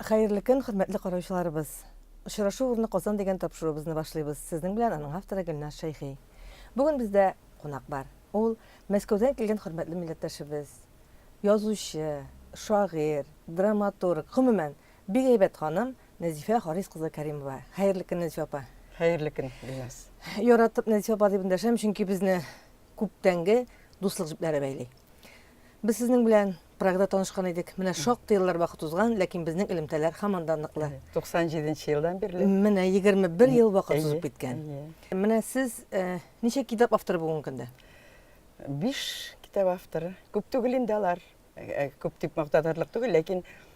Хәерле көн, хөрмәтле караучыларыбыз! Очрашу урыны Казан дигән тапшыруыбызны башлыйбыз. Сезнең белән аның авторы Гөлназ Шәйхи. Бүген бездә кунак бар. Ул Мәскәүдән килгән хөрмәтле милләттәшебез, язучы, шагыйрь, драматург, гомумән, бик әйбәт ханым Нәзифә Харис кызы Кәримова. Хәерле көн, Нәзифә апа! Хәерле көн, Гөлназ! Яратып Нәзифә апа дип эндәшәм, чөнки безне күптәнге дуслык җепләре бәйли. Без сезнең белән Прагада танышкан идек. Менә шактый еллар вакыт узган, ләкин безнең элемтәләр һаман да ныклы. 97 нче елдан бирле. Менә 21 ел вакыт Әйе, узып киткән. әйе. Менә сез э, ничә китап авторы бүгенге көндә? Биш китап авторы. Күп түгел инде алар. Э, Күп дип мактатырлык түгел, ләкин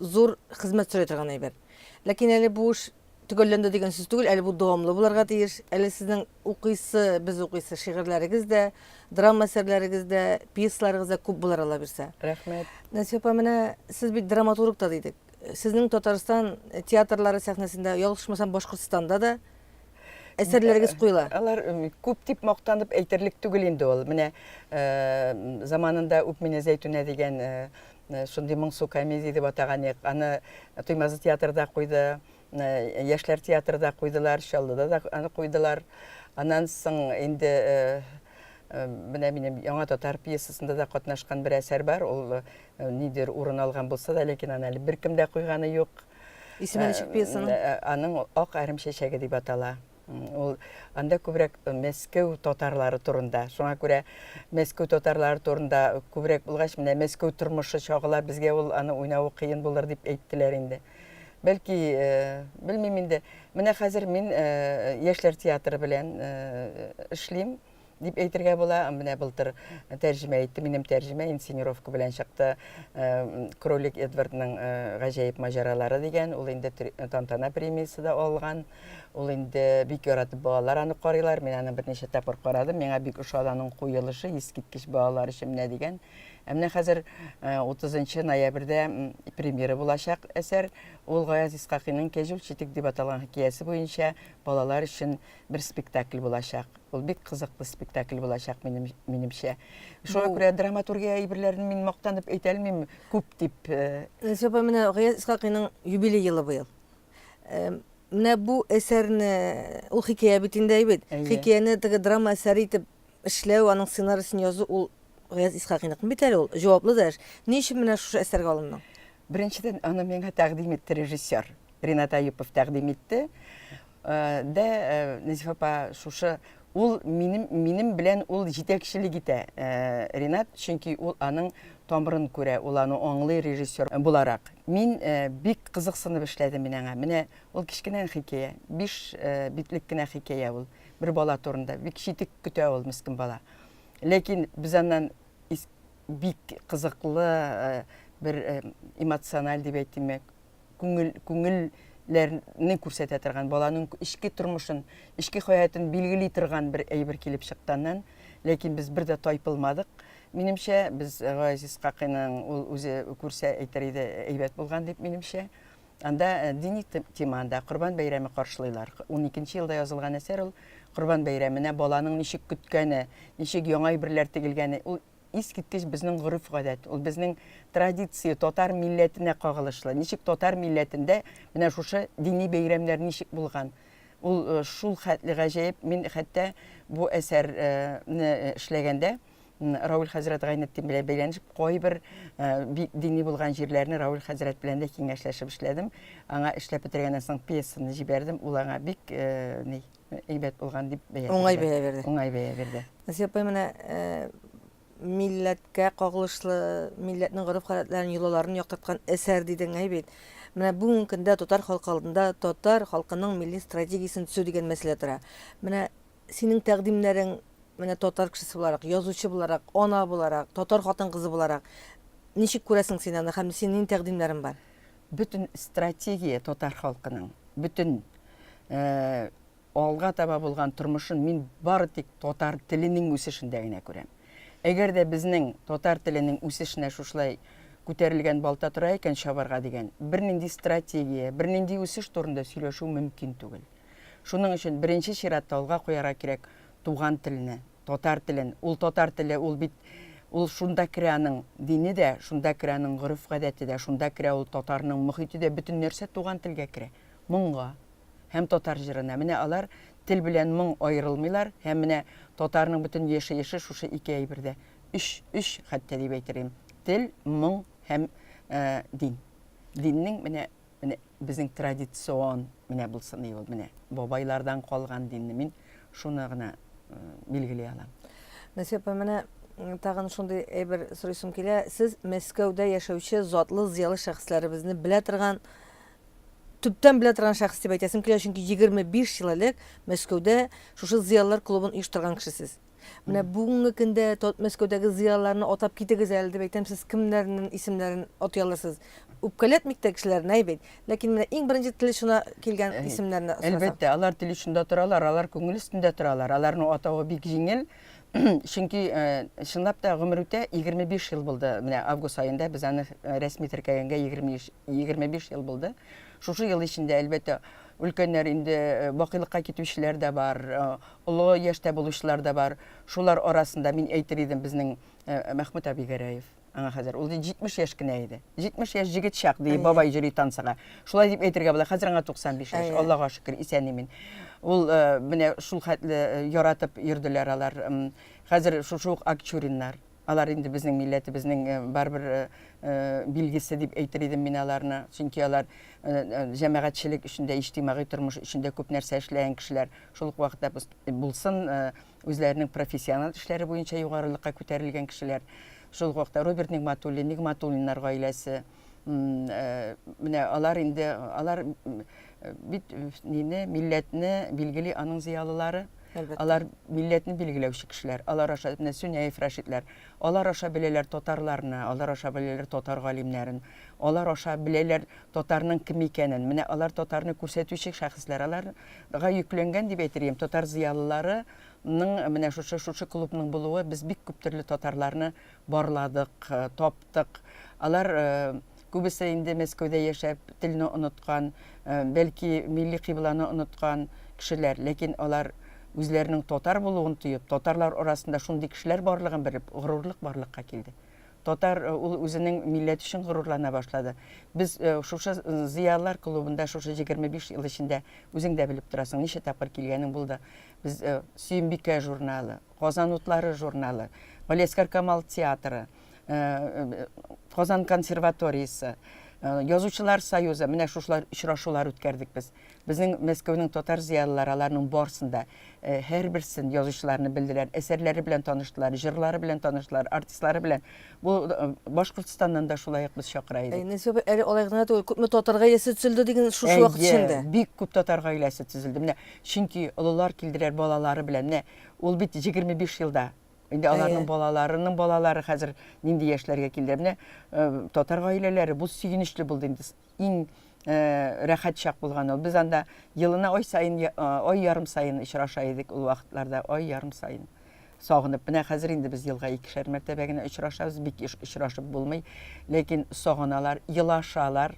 Зур хезмәт сорый торган әйбер. Ләкин әле бу эш төгәлләнде дигән сүз түгел, әле бу дәвамлы булырга тиеш. Әле сезнең укыйсы, без укыйсы шигырьләрегез дә, драма әсәрләрегез дә, пьесаларыгыз да күп булыр, Аллабирса. Рәхмәт. Нәсия апа, менә сез бит драматург та дидек. Сезнең Татарстан театрлары сәхнәсендә, ялгышмасам, Башкортстанда да әсәрләрегез куела. Алар күп дип мактанып әйтерлек түгел инде ул. Менә заманында үк менә Зәйтүнә дигән Э, шундый моңсу комедия дип атаган ек аны туймазы театрда куйды э, яшьләр театрда куйдылар чаллыда да аны куйдылар аннан соң инде э, менә минем яңа татар пьесасында да катнашкан бер әсәр бар ул нидер урын алган булса да ләкин аны әле беркем дә куйганы юк исеме ничек пьесаның аның ак әрем чәчәге дип атала Ул анда күбрәк Мәскәү татарлары турында. Шуңа күрә Мәскәү татарлары турында күбрәк булгач, менә Мәскәү тормышы чагыла, безгә ул аны уйнавы кыен булыр дип әйттеләр инде. Бәлки, э, белмим инде. Менә хәзер мин э, яшьләр театры белән э, эшлим. дип әйтергә була. Менә былтыр тәрҗемә итте, минем тәрҗемә инсценировка белән чыкты. Э, Кролик Эдвардның э, гаҗәеп маҗаралары дигән, ул инде тантана премиясе дә алган. Ул инде бик яратып балалар аны карыйлар. Мин аны берничә тапкыр карадым. Миңа бик ошады аның куелышы, искиткеч балалар өчен менә дигән. Ә менә хәзер 30 э, ноябрьдә премьера булачак әсәр. Ул Гаяз Исхакыйның Кәҗүл читек дип аталган хикәясе буенча балалар өчен бер спектакль булачак. Ул бик кызыклы спектакль булачак минем, минемчә. Шуңа Бу... күрә драматургия әйберләрен мин мактанып әйтә алмыйм күп дип. Э, Сәпа менә Гаяз Исхакыйның юбилей елы быел. Э, менә бу әсәрне ул хикәя бит инде әйбит. Хикәяне теге драма әсәре итеп эшләү, аның сценариясен язу ул Гаяз Исхакыйныкмы бит әле ул? Җаваплы да эш. Ни өчен менә шушы әсәргә алындың? Беренчедән, аны миңа тәкъдим итте режиссер. Ринат Аюпов тәкъдим итте. Дә Нәзифә апа шушы ул минем минем белән ул җитәкчелек итә Ринат, чөнки ул аның тамырын күрә, ул аны аңлый режиссер буларак. Мин бик кызыксынып эшләдем мин аңа. Менә ул кечкенә хикәя, биш битлек кенә хикәя ул. Бер бала турында. Бик читек көтә ул, мескен бала. Ләкин без аннан бик кызыклы бер эмоциональ дип әйтимме күңел күңелләрне күрсәтә торган баланың эчке тормышын эчке хәятын билгели торган бер әйбер килеп чыкканнан ләкин без бер дә тайпылмадык минемчә без газиз какыйның ул үзе күрсә әйтер иде әйбәт булган дип минемчә Анда дини темада Корбан бәйрәме каршылыйлар. 12 елда язылган әсәр ул Корбан бәйрәменә баланың ничек көткәне, ничек яңа әйберләр тегелгәне, ул искиткеч безнең гореф-гадәт, ул безнең традиция, татар милләтенә кагылышлы. Ничек татар милләтендә менә шушы дини бәйрәмнәр ничек булган? Ул шул хәтле гаҗәеп, мин хәтта бу әсәрне эшләгәндә Рауль хәзрәт Гайнетдин белән бәйләнешеп, кайбер бик дини булган җирләрне Рауль хәзрәт белән дә киңәшләшеп эшләдем. Аңа эшләп бетергәннән соң пьесаны җибәрдем. Ул аңа бик ни әйбәт булган дип бәя бирде. Уңай бәя бирде. Уңай бәя бирде. Насия апай менә милләткә кагылышлы, милләтнең гореф-гадәтләрен, йолаларын яктырткан әсәр дидең әй бит. Менә бүгенге көндә татар халкы алдында татар халкының милли стратегиясен төзү дигән мәсьәлә тора. Менә Синең тәкъдимнәрең менә татар кешесе буларак, язучы буларак, ана буларак, татар хатын-кызы буларак ничек күрәсең син аны һәм синең тәкъдимнәрең бар? Бөтен стратегия татар халкының, бөтен алга таба булган тормышын мин бары тик татар теленең үсешендә генә күрәм. Әгәр дә безнең татар теленең үсешенә шушылай күтәрелгән балта тора икән чабарга дигән, бернинди стратегия, бернинди үсеш турында сөйләшү мөмкин түгел. Шуның өчен беренче чиратта алга куярга кирәк туган телне, татар телен. Ул татар теле, ул бит, ул шунда керә аның дине дә, шунда керә аның гореф-гадәте дә, шунда керә ул татарның мохите дә, бөтен нәрсә туган телгә керә. Моңга һәм татар җырына. Менә алар, тел белән моң аерылмыйлар һәм менә татарның бөтен яшәеше шушы ике әйбердә, өч, өч хәтта дип әйтер идем, тел, моң һәм дин. Диннең менә. Менә безнең традицион менә булсын иде ул, менә бабайлардан калган динне мин шуны гына билгели алам. Насия апа, менә тагын шундый әйбер сорыйсым килә, сез Мәскәүдә яшәүче затлы, зыялы шәхесләребезне белә торган, төптән белә торган шәхес дип әйтәсем килә, чөнки 25 ел элек Мәскәүдә шушы зыялылар клубын оештырган кеше сез. Менә бүгенге көндә тот Мәскәүдәге зыялыларны атап китегез әле дип әйтәм, сез кемнәрнен исемнәрен атый алырсыз? Үпкәләтмик тә кешеләрне, әй бит. Ләкин менә иң беренче тел очына килгән исемнәрне сорасам. Әлбәттә, алар тел очында торалар, алар күңел өстендә торалар, аларның атавы бик җиңел, чөнки чынлап та гомер үтә, 25 ел булды, менә август аенда без аны рәсми теркәгәнгә 25 ел булды. Шушы ел эчендә, әлбәттә, өлкәннәр инде бакыйлыкка китүчеләр дә бар, Олы яшьтә булучылар да бар. Шулар арасында мин әйтер идем безнең Мәхмүт әби Гәрәев. Аңа хәзер ул 70 яшь кенә иде. 70 яшь җегет чак, ди бабай җөри танцыга. Шулай дип әйтергә була. Хәзер аңа 95 яшь. Аллага шөкер, исән-имин. Ул менә шул хәтле яратып йөрделәр алар. Хәзер шушы ук Акчуриннар. Алар инде безнең милләтебезнең барыбер билгесе дип әйтер идем мин аларны. Чөнки алар җәмәгатьчелек өчен дә, иҗтимагый тормыш өчен дә күп нәрсә эшләгән кешеләр. Шул ук вакытта булсын үзләренең профессиональ эшләре буенча югарылыкка күтәрелгән кешеләр. Шул ук вакытта Роберт Нигъмәтуллин, Нигъмәтуллиннар гаиләсе. менә алар инде алар бит нине милләтне билгели аның зыялылары Әлбәттә. алар милләтне билгеләүче кешеләр алар аша менә сүнәев рәшитләр алар аша беләләр татарларны алар аша беләләр татар галимнәрен алар аша беләләр татарның кем икәнен менә алар татарны күрсәтүче шәхесләр аларга йөкләнгән дип әйтергә татар зыялылары ның менә шушы шушы клубның булуы без бик күп төрле татарларны барладык, таптык. Алар күбесе инде Мәскәүдә яшәп, телне оныткан, бәлки милли кыйбланы оныткан кешеләр, ләкин алар үзләренең татар булуын тоеп, татарлар арасында шундый кешеләр барлыгын белеп, горурлык барлыкка килде. Татар ул үзенең милләте өчен горурлана башлады. Без шушы зыялылар клубында шушы 25 ел эчендә үзең дә белеп торасың, ничә тапкыр килгәнең булды. Без Сөембикә журналы, Казан утлары журналы, Галиәсгар Камал театры, Казан консерваториясе, Язучылар союзы, менә шушылар очрашулар үткәрдек без. Безнең Мәскәүнең татар зыялылары аларның барысын да һәрберсен язучыларны белделәр, әсәрләре белән таныштылар, җырлары белән таныштылар, артистлары белән. Бу Башкортстаннан да шулай ук без чакыра идек. Нәсибә апа, әле алай гына түгел, күпме татар гаиләсе төзелде диген шушы вакыт эчендә. Бик күп татар гаиләсе төзелде. Менә чөнки олылар килделәр балалары белән. Менә Ул бит җигерме биш елда. Инде аларның балаларының балалары хәзер нинди яшьләргә килде. Менә э, татар гаиләләре бу сөенечле булды инде. Иң э, рәхәт чак булган ул. Без анда елына ай саен, э, ай ярым саен очраша идек ул вакытларда, ай ярым саен сагынып менә хәзер инде без елга икешәр мәртәбә генә очрашабыз бик очрашып булмый ләкин сагыналар елашалар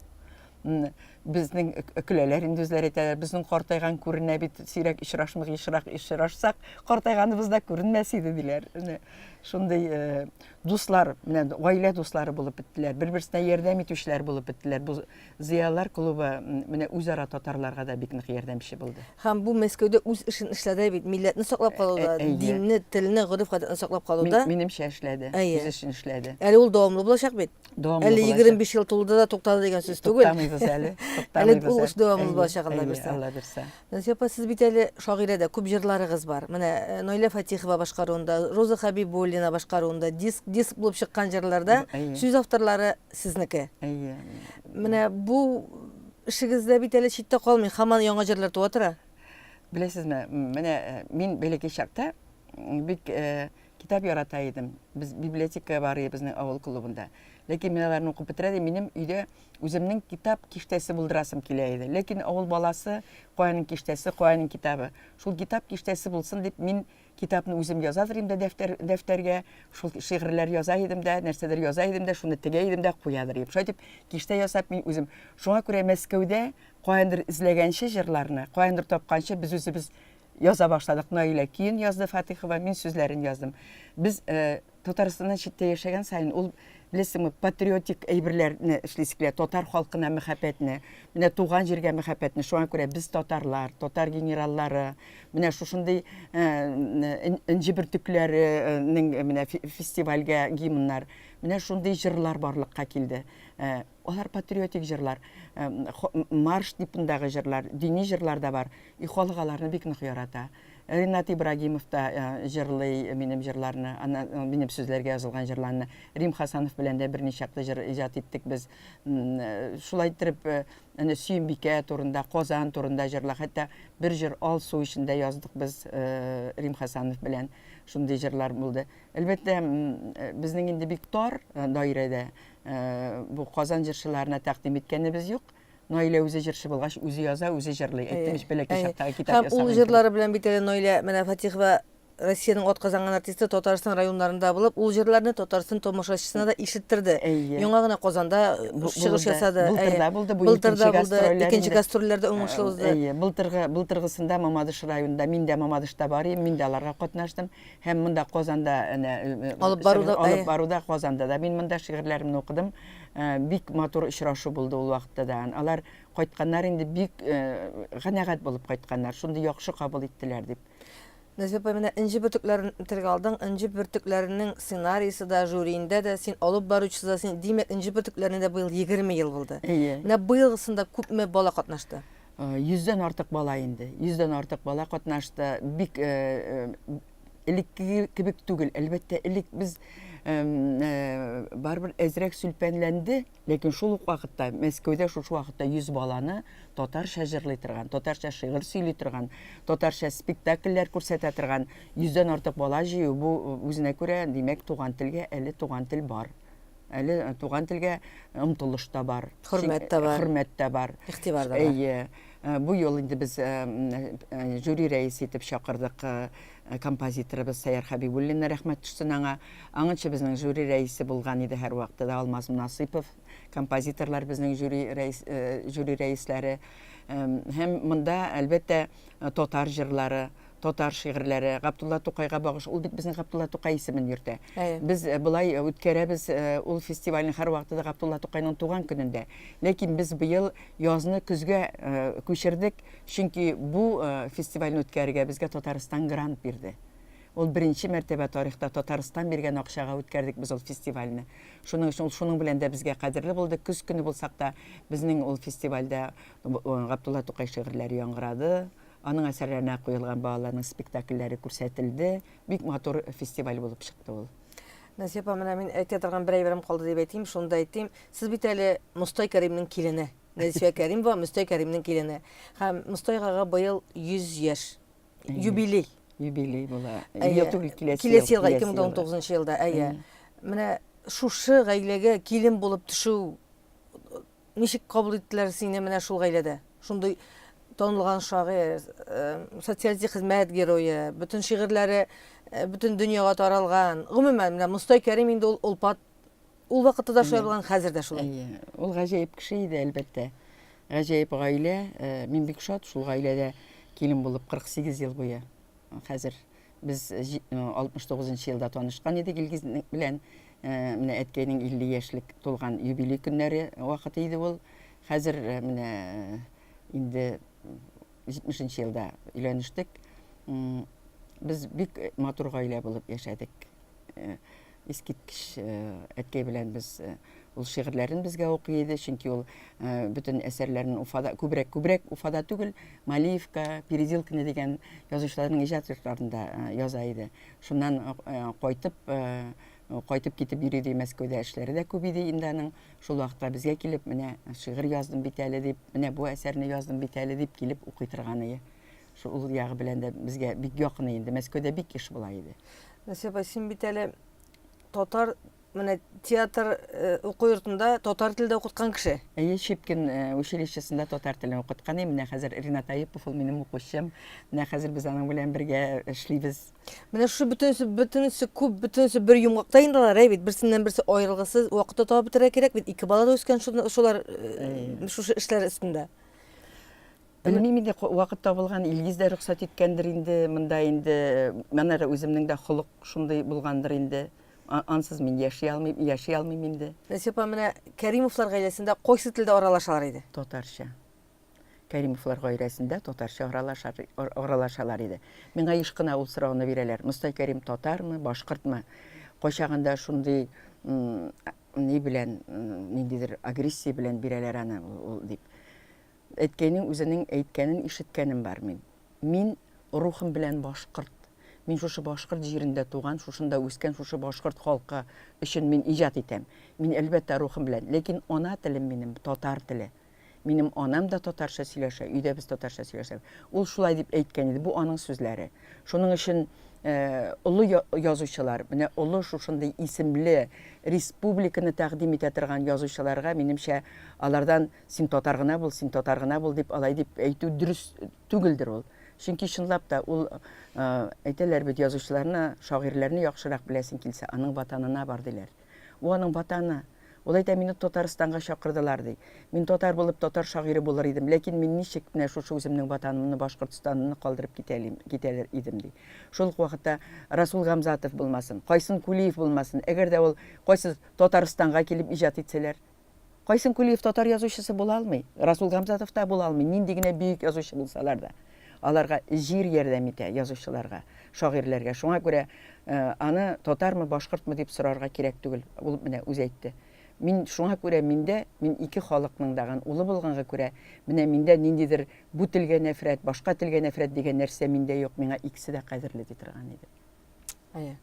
безнең көләләр инде үзләре әйтәләр безнең картайган күренә бит сирәк очрашмыйк ешрак очрашсак картайганыбыз да күренмәс иде диләр менә шундый э, дуслар менә гаилә дуслары булып беттеләр бер берсенә ярдәм итүчеләр булып беттеләр бу зыялылар клубы менә үзара татарларга да бик нык ярдәмче булды һәм бу мәскәүдә үз эшен эшләде бит милләтне саклап калуда э, э, динне телне гореф гадәтне саклап калуда минемчә эшләде үз эшен эшләде әле ул дәвамлы булачак бит дәвамлы Әле 25 ел тулды да туктады дигән сүз түгел. Туктамыйбыз әле. Әле ул эш дәвамлы булачак Алла бирсә. Алла бирсә. Насия апа, сез бит әле шагыйрә дә, күп җырларыгыз бар. Менә э, Нойлә Фатихова башкаруында, Роза Хабибуллина башкаруында диск диск булып чыккан җырларда сүз авторлары сезнеке. Әйе. Менә бу эшегездә бит әле читтә калмый, хаман яңа җырлар туа тора. Беләсезме, менә э, мин бәләкәй чакта бик э, Китап ярата идем. Без библиотекага барыйбызның авыл клубында. Ләкин мин аларны укып бетерә дим, минем өйдә үземнең китап киштәсе булдырасым килә иде. Ләкин авыл баласы, каянын киштәсе, каянын китабы. Шул китап киштәсе булсын дип, мин китапны үзем язадыр идем дә дәфтәр, дәфтәргә, шул шигырьләр яза идем дә, нәрсәдер яза идем дә, шуны тегә идем дә куядыр идем. Шулай дип киштә ясап мин үзем. Шуңа күрә Мәскәүдә каяндыр эзләгәнче җырларны, каяндыр тапканчы без үзебез Яза башладык. Наилә көен язды Фатыйхова, мин сүзләрен яздым. Без Татарстаннан читтә яшәгән саен ул беләсеңме, патриотик әйберләрне эшлисе килә, татар халкына мәхәббәтне, менә туган җиргә мәхәббәтне. Шуңа күрә без татарлар, татар генераллары, менә шушындый энҗе бөртекләренең менә фестивальгә гимннар, менә шундый җырлар барлыкка килде. Алар патриотик җырлар, марш типындагы җырлар, дини җырлар да бар. И халык аларны бик нык ярата. Ринат Ибрагимов та җырлый минем җырларны, аннан минем сүзләргә язылган җырларны. Рим Хасанов белән дә берни чаклы җыр иҗат иттек без. Шулай иттереп, әнә Сөембикә турында, Казан турында җырлар, хәтта бер җыр Алсу өчен дә яздык без Рим Хасанов белән. Шундый җырлар булды. Әлбәттә, безнең инде бик тар даирәдә Бу Казан җырчыларына тәкъдим иткәнебез юк. Наилә үзе җырчы булгач, үзе яза, үзе җырлый. Әйттем бит, бәләкәй чактагы китап ясаган. Һәм ул җырлары белән бит әле Наилә менә Фатихова Россиянең атказанган артисты Татарстан районнарында булып, ул җырларны Татарстан томашачысына да ишеттерде. Яңа гына Казанда чыгыш ясады. Былтырда булды бу икенче гастрольләр. Икенче гастрольләрдә уңышлы узды. Әйе, былтыргы, былтыргысында Мамадыш районында, мин дә Мамадышта бар идем, мин дә аларга катнаштым. Һәм монда Казанда әнә Алып баруда, чыгыш алып әйе. баруда Казанда да мин монда шигырьләремне укыдым. Э, Бик матур очрашу булды ул вакытта да. Алар кайтканнар инде бик э, канәгать булып кайтканнар. Шундый яхшы кабул иттеләр дип. Нәзифә апа, менә Энҗе бөртекләрен телгә алдың. Энҗе бөртекләренең сценарийсы да, жюриендә дә, син алып баручысы да, син, димәк, Энҗе бөртекләренә дә быел 20 ел булды. Әйе. Менә быелгысында күпме бала катнашты? Йөздән артык бала инде, йөздән артык бала катнашты. Бик элеккеге кебек түгел. Әлбәттә, элек без барыбер әзрәк сүлпәнләнде, ләкин шул ук вакытта Мәскәүдә шушы вакытта 100 баланы татарча җырлый торган, татарча шигырь сөйли торган, татарча спектакльләр күрсәтә торган 100 дән артык бала җыю бу үзенә күрә, димәк, туган телгә әле туган тел бар. Әле туган телгә омтылыш та бар. Хөрмәт тә бар. Хөрмәт тә бар. Игътибар да бар. Әйе. Э, бу юл инде без э, э, жюри рәисе итеп чакырдык композиторыбыз Сәяр Хәбибуллинны рәхмәт төшсен аңа. Аңынчы безнең жюри рәисе булган иде һәр вакытта да Алмаз Насыпов. Композиторлар безнең жюри, рәис, жюри рәисләре. Һәм монда, әлбәттә, татар җырлары, Татар шигырьләре, Габдулла Тукайга багыш. Ул бит безнең Габдулла Тукай исемен йөртә. Без болай үткәрәбез ул фестивальне һәрвакытта да Габдулла Тукайның туган көнендә. Ләкин без быел язны көзгә күчердек, чөнки бу фестивальне үткәрергә безгә Татарстан грант бирде. Ул беренче мәртәбә тарихта Татарстан биргән акчага үткәрдек без ул фестивальне. Шуның өчен ул шуның белән дә безгә кадерле булды. Көз көне булсак та, безнең ул фестивальдә Габдулла Тукай шигырьләре яңгырады. Аның әсәрләренә куелган балаларның спектакльләре күрсәтелде. Бик матур фестиваль булып чыкты ул. Назия апа, менә мин әйтә торган бер әйберем калды дип әйтим, шуны да әйтим. Сез бит әле Мостай Кәримнең килене. Назифә Кәримова Мостай Кәримнең килене. Һәм Мостай агага быел 100 яшь. Юбилей. Юбилей була. Ел түгел, киләсе ел. Киләсе елга 2019 елда, әйе. Менә шушы гаиләгә килен булып төшү Ничек кабул иттеләр сине менә шул гаиләдә? Шундый танылган шагыйрь, социалистик хезмәт герое, бөтен шигырьләре бөтен дөньяга таралган. Гомумән, менә Мостай Кәрим инде ул олпат. Ул вакытта да шулай булган, хәзер дә шулай. Әйе. Ул гаҗәеп кеше иде, әлбәттә. Гаҗәеп гаилә. Мин бик шат шул гаиләдә килен булып 48 ел буе. Хәзер Без 69 нчы елда танышкан идек Илгиз белән. Менә әткәйнең 50 яшьлек тулган юбилей көннәре вакыты иде ул. Хәзер менә инде 70 нчы елда өйләнештек. Без бик матур гаилә булып яшәдек. искиткеч әткәй белән без ул шигырьләрен безгә укый иде, чөнки ул бөтен әсәрләрен Уфада, күбрәк күбрәк Уфада түгел, Малиевка, Перезилкина дигән язучыларның иҗат йортларында яза иде. Шуннан кайтып кайтып китеп йөри ди Мәскәүдә эшләре дә күп иде инде аның. Шул вакытта безгә килеп, менә шигырь яздым бит әле дип, менә бу әсәрне яздым бит әле дип килеп укый торган иде. Шул ягы белән дә безгә бик якын инде. Мәскәүдә бик еш була иде. Насия апа, син бит әле татар менә театр э, уку йортында татар телдә укыткан кеше. Әйе, Щепкин э, училищесында татар телен укыткан идем. Менә хәзер Ринат Аипов ул минем укучым. Менә хәзер без аның белән бергә эшлибез. Менә шушы бөтенесе, бөтенесе күп, бөтенесе бер йомгакта инде алар, әй бит, берсеннән берсе аерылгысыз вакытта табып бетерә кирәк бит. Ике бала да үскән шуны- шулар э, шушы эшләр өстендә. Белмим инде, вакыт табылган, Илгиз дә рөхсәт иткәндер инде, монда инде манара үземнең дә холык шундый булгандыр инде. Ансыз мин яши алмыйм, яши алмыйм инде. Насия апа, менә Кәримовлар гаиләсендә кайсы телдә аралашалар иде? Татарча. Кәримовлар гаиләсендә татарча аралашар, аралашалар иде. Миңа еш кына ул сорауны бирәләр. Мостай Кәрим татармы, башкортмы? Кайчагында шундый ни белән, ниндидер агрессия белән бирәләр аны ул дип. Әткәйнең үзенең әйткәнен ишеткәнем бар мин. Мин рухым белән башкорт. Мин шушы башкорт җирендә туган, шушында үскән, шушы башкорт халкы өчен мин иҗат итәм. Мин, әлбәттә, рухым белән. Ләкин ана телем минем, татар теле. Минем анам да татарча сөйләшә, өйдә без татарча сөйләшәбез. Ул шулай дип әйткән иде, бу аның сүзләре. Шуның өчен олы язучылар, менә олы шушындый исемле республиканы тәкъдим итә торган язучыларга, минемчә, алардан Син татар гына бул, син татар гына бул дип алай дип әйтү дөрес түгелдер ул. Чөнки чынлап та ул әйтәләр бит язучыларны, шагыйрьләрне яхшырак беләсең килсә, аның ватанына бар диләр. Бу аның ватаны. Ул әйтә, мине Татарстанга чакырдылар ди. Мин татар булып татар шагыйре булыр идем, ләкин мин ничек менә шушы үземнең ватанымны, Башкортстанымны калдырып китәлим, китәлер идем ди. Шул ук вакытта Расул Гамзатов булмасын, Кайсын Кулиев булмасын, әгәр дә ул кайсы Татарстанга килеп иҗат итсәләр, Кайсын Кулиев татар язучысы була алмый, Расул Гамзатов та була алмый, нинди генә бөек язучы булсалар да. Аларга җир ярдәм итә, язучыларга, шагыйрьләргә. Шуңа күрә аны татармы, башкортмы дип сорарга кирәк түгел, ул менә үзе әйтте. Мин шуңа күрә миндә, мин ике халыкның да ган улы булганга күрә, менә миндә ниндидер бу телгә нәфрәт, башка телгә нәфрәт дигән нәрсә миндә юк, миңа икесе дә кадерле, ди торган иде. Әйе.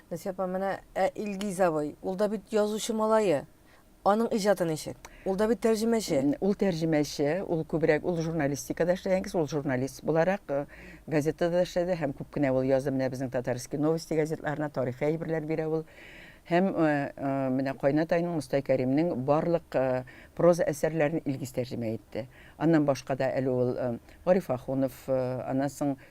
Насия апа, менә ә Илгиз абый, ул да бит язучы малае. Аның иҗаты ничек? Ул да бит тәрҗемәче. Ул тәрҗемәче, ул күбрәк ул журналистикада эшләгән кеше, ул журналист буларак э, газетада эшләде һәм күп кенә ул язды менә безнең Татарские новости газетларына тарихи әйберләр бирә ул. Һәм э, э, менә Кайнатайның Мостай Кәримнең барлык проза әсәрләрен Илгиз тәрҗемә итте. Аннан башка да әле ул Гариф Ахунов, аннан соң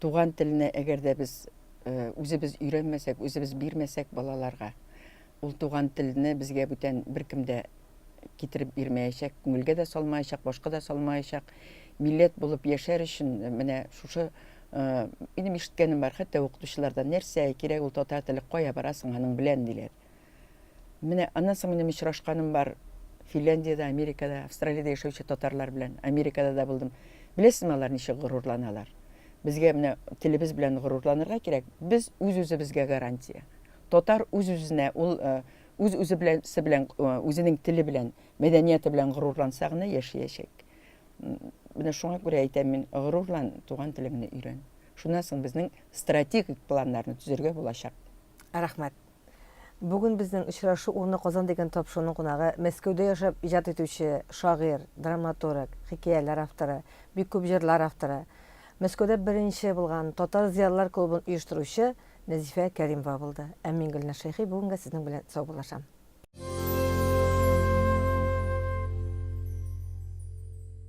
Туган телне әгәр дә без үзебез өйрәнмәсәк, үзебез бирмәсәк балаларга, ул туган телне безгә бүтән беркем дә китереп бирмәячәк, күңелгә дә салмаячак, башка да салмаячак. Милләт булып яшәр өчен менә шушы минем ишеткәнем бар, хәтта укытучылардан нәрсә кирәк ул татар теле, кая барасың аның белән диләр. Менә аннан соң минем очрашканым бар Финляндиядә, Америкада, Австралиядә яшәүче татарлар белән. Америкада да булдым. Беләсезме, алар ничек горурланалар? Безгә менә телебез белән горурланырга кирәк. Без үз-үзебезгә гарантия. Татар үз-үзенә, ул э, үз-үзе белән, белән, э, үзенең теле белән, мәдәнияте белән горурланса гына яшәячәк. Менә шуңа күрә әйтәм мин, горурлан, туган телеңне өйрән. Шуннан соң безнең стратегик планнарны төзергә булачак. Рәхмәт. Бүген безнең очрашу урыны Казан дигән тапшыруның кунагы, Мәскәүдә яшәп иҗат итүче, шагыйрь, драматург, хикәяләр авторы, бик күп җырлар авторы, Мәскәүдә беренче булган татар зыялылар клубын оештыручы Нәзифә Кәримова булды. Ә мин Гөлназ Шәйхи бүгенгә сезнең белән саубуллашам.